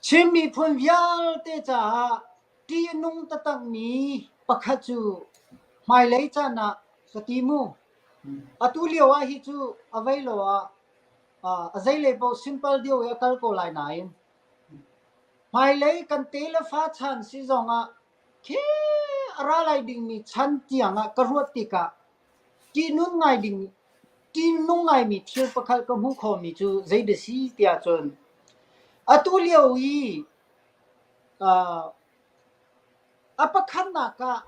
Chin miphun vialte caah ṭihnung tatakmi pakhat cu hmailei caan ah ka ti mu. Atu lio ah hi cu a vei lo ah a zeilei paoh sinpal lio i a kal ko lai nain hmailei kan tefa chan si zong ah khi a ra lai dingmi chan tiang ah ka ruah tikah Ṭihnung ngaimi thil pakhat ka hmuh khomi cu zeidah a si tiah cun atu lio i a pakhatnak ah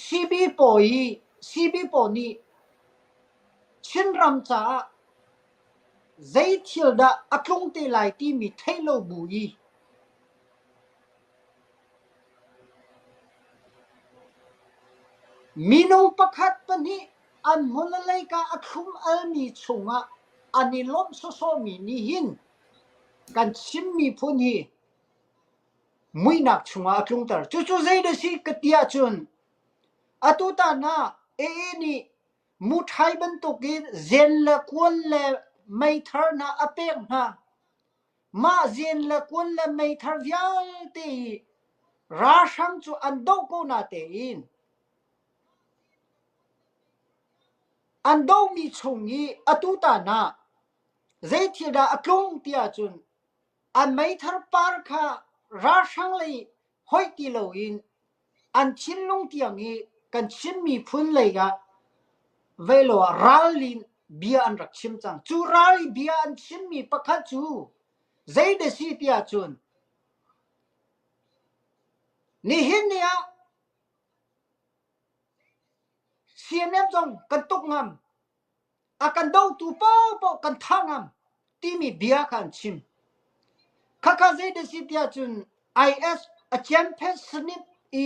siibawi nih Chinram caah zei thil dah a tlung te lai timi theih lo bu i Mino pakhat pahnih an hmawlaleika a thlum almi chungah an i lawmh sawsawhmi nih hin kan Chin miphun hi muihnak chungah a tlungter. Cucu zeidah a si ka ti ahcun atutan ah AA nih muṭhai bantukin zen le kual le meithar hna a pek hna. Mah zin le kun le meithar vialte i ralhrang cu an doh ko natein an dohmi chung i atu tan ah zei thil dah a tlung tiah cun an meithar par kha ralhrang lei hoih ti loin an thinlung tiang i kan Chin miphun lei ah velo ah ralli in bia an rak chim cang. Cu ralli bia an chimmi pakhat cu zeide si ti ahcun nihin ni ah CNM zong kan tuk ngam. a kan dotu paohpaoh kan thah ngam timi bia kha an chim. Khakha zeidah si tiah cun IS a cian phesanip i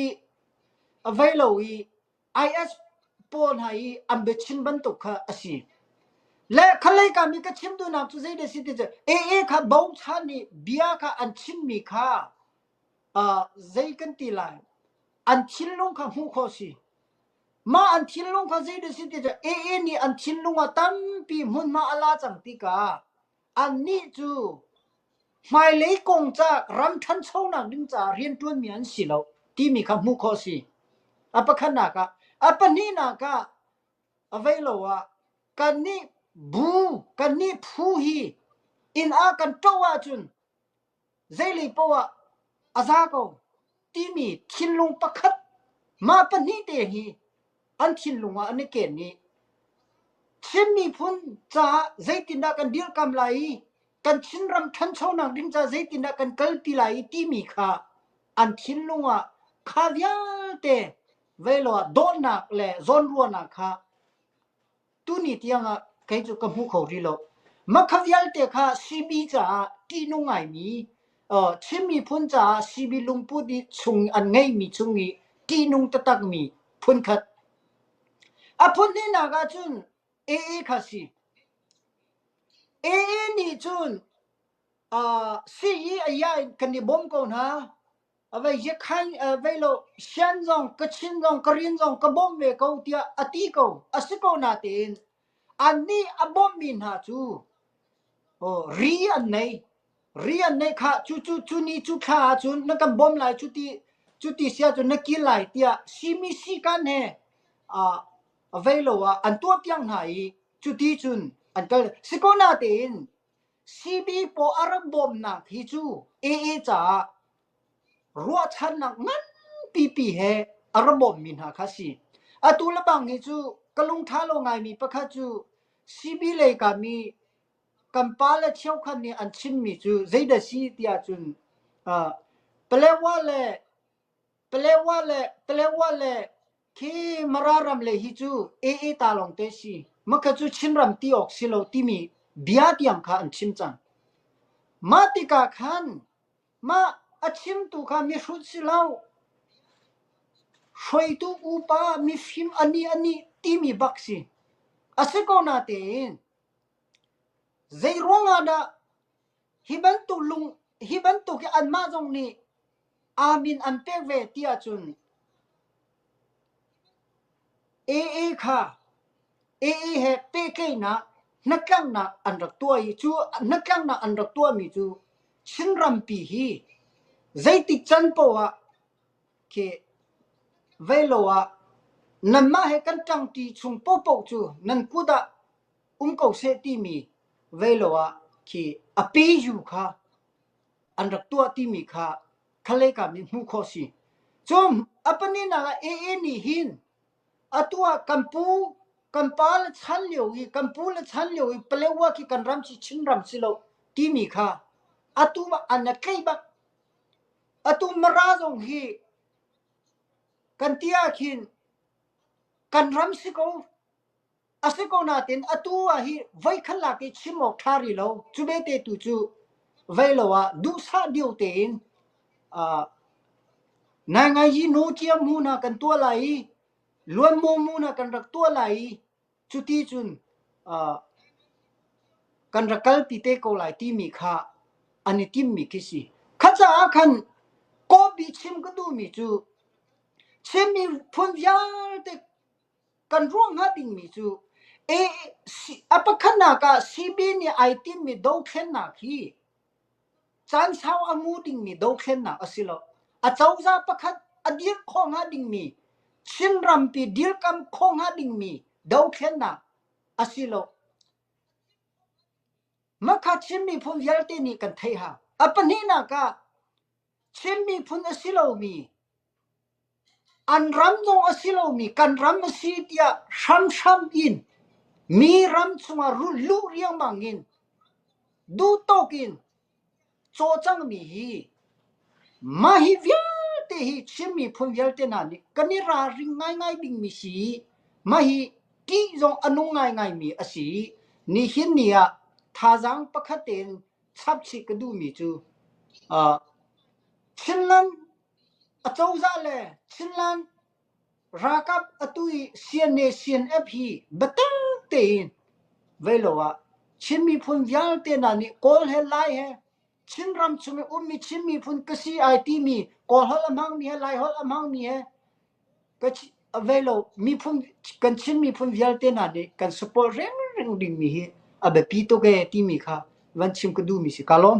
a vei lo i IS pawl hna i an biachin bantuk kha a si. Le khalei ka mi ka chim dunak cu zeidah si ti cu AA kha bochan i bia kha an chimmi kha uh, zei kan ti lai an thinlung kha hmuh khawh si Mah an thinlung kha zeidah a si ti cu AA nih an thinlung ah tampi hmunhma a la cang tika annih cu hmailei kong ca ram ṭhanchonak ding caah rianṭuanmi an si lo timi kha hmuh khawh a si. A pakhatnak ah a pahnihnak ah avei lo ah kannih bu kannih phu hi inn ah kan ṭoh ahcun Zeilei paoh ah a za ko timi thinlung pakhat mah pahnih te hi an thinlung ah an i ken i Chin miphun caah zeitindah kan dirhkam lai i kan Chinram ṭhanchonak ding caah zeitindah kan kalpi lai i timi kha an thinlung ah kha vialte velo ah dawhnak le zawnruahnak kha Tuni tiangah kei cu ka hmu kho rih lo. Makha vialte kha sibi caah ṭihnung ngaimi, uh, Chin miphun caah sibi lungput i chung an ngeimi chung i ṭihnung taktakmi phunkhat. A phun hnihnak ahcun AA kha si. AA nih cun uh, si i a ya in kan i bawm ko hna. Avei zekhan vei lo sian zong ka chin zong ka rin zong ka bawm ve ko tiah a ti ko a si ko natein an nih a bawmh mi hna cu oh, ri an nei ri an nei kha cu cu cu ni cu thla ahcun na kan bawm lai cu ti cu ti sia cu na kil lai tiah simi si kan he avei lo ah an tuah piak hna i cuti cun an kal si ko natein Sipi paw a rak bawmnak hi cu AA caah ruahchannak nganpipi he a ra bawmmi hna kha a si. Atu le bang hi cu ka lungṭha lo ngaimi pakhat cu sipi lei kam i kan pa le cheukhat nih an chimmi cu zeidah a si tiah cun uh, Palawa le Talewa le Talewa le khi Mara ram le hi cu AA ta lawng te si. Makha cu Chinram ti awk si lo timi bia tiang kha an chim cang. Mah tikah khan mah a chimtu kha mihrut si lo hruaitu upa mifim ani ani timi bak si. A si ko natein zei ruangah dah Hi bantuk lung hi bantuk hi anmah zong nih amin an pek ve ti ahcun AA kha AA he pehtlaihnak hnatlaknak an rak tuah i cu hnatlaknak an rak tuahmi cu Chinrampi hi zeitik can poah khi vei lo ah nanmah he kan ṭangṭi chung pohpoh cu nan kut ah um ko seh timi velo ah khi a peju kha an rak tuah timi kha khalei kam i hmuh khawh si. Cun a paninak ah AA nih hin atu ah kan pu kan pa le chan lio i kan pu le chan lio i Palewa khi kan ram si Chin ram si lo timi kha atu ah an a tleih bak. Atu Mara zong hi kan ti ah khin kan ram si ko A si ko nain atu ah hi voikhat lak i chim awk ṭha rih lo. Cu vete tu cu vei lo ah duhsah deu tein uh, Naingaiyi No Ciam hnu na kan tuah lai i Luanmaw mu na kan rak tuah lai i cuti cun uh, kan rak kal ti te ko lai timi kha an i timmi khi si. Kha caah khan kawpi chim ka duhmi cu chimmi phun vialte Kan ruah hnga dingmi cu a pakhatnak ah CB nih ai timmi dothlennak hi caansau a ngu dingmi dothlennak a si lo. Acozah pakhat a dirh khawh hnga dingmi, Chinrampi dirkamh khawh hnga dingmi dothlennak a si lo. Mah kha Chin miphun vialte nih kan theih hna. A pahnihnak ah Chin miphun a si lomi, an ram zong a si lomi kan ram a si tiah hramhram in mi ram cungah rulh luh riangmang in duhtawk in cawcangmi hi mah hi vialte hi Chin miphun vialte hna nih kan i ralring ngaingai dingmi si i mah hi ṭih zong a nung ngaingaimi a si. Nihin ni ah thazaang pakhat tein Chapchih ka duhmi cu Chinland acozah le Chinland ralkap atu i CNA/CNF hi biatak tein voi lo ah Chin miphun vialte hna nih Kawl he Lai he Chin ram chung i ummi Chin miphun ka si ai timi Kawl holh a hmangmi he Lai holh a hmangmi he miphun kan Chin miphun vialte hna nih kan support rengreng dingmi hi a biapi tuk ee timi kha van chim ka duhmi si ka lawm.